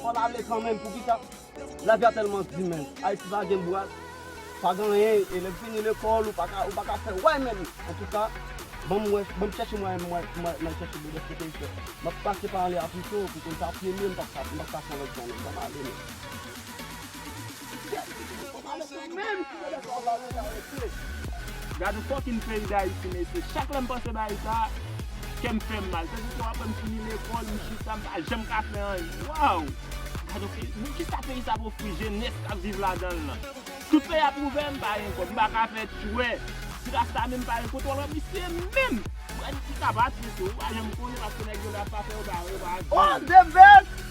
Fòl ale kanmenm poukisa lavi a tèlman di menm ayiti pa gen bwa pa gen anyen e lèm fini lekòl ou paka ou paka fè way menm antouka banm wè banm chèche mwayen pou mwen mwen mwen chèche bò dèske peyi sèl map pase pa anlè a pito pou konn sa premye m pap ka m pap ka fon lòt jan menm banm ale menm. Gad yon fòkin peyi dayiti mesye chak lèm panse bagay sa kèm fèm mal se ditou aprè m fini lekòl m chita m pa janm ka fè anyen waww gad yon peyi men kisa peyi sa ap ofri jenès kap viv ladanl lan tout peyi ap ouvè m pa gen kòb m pa ka fè tchwè ti rasta menm pa gen kote wal wè misye menm pran ti kaba tete ou pa janm konnen paske nèg yo lè ap pa fè yo pa yo pa vini.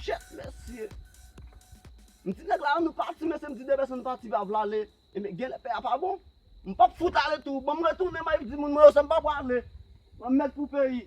Chet mesye. M di nèg la annou pati mesye m di de pèson pati pa vle ale. Ebyen genlè pè a pa bon. M pap fout ale tou. Banm retounen mwen di moun mwen yo sa m pa prale. Banm mèt pou peyi.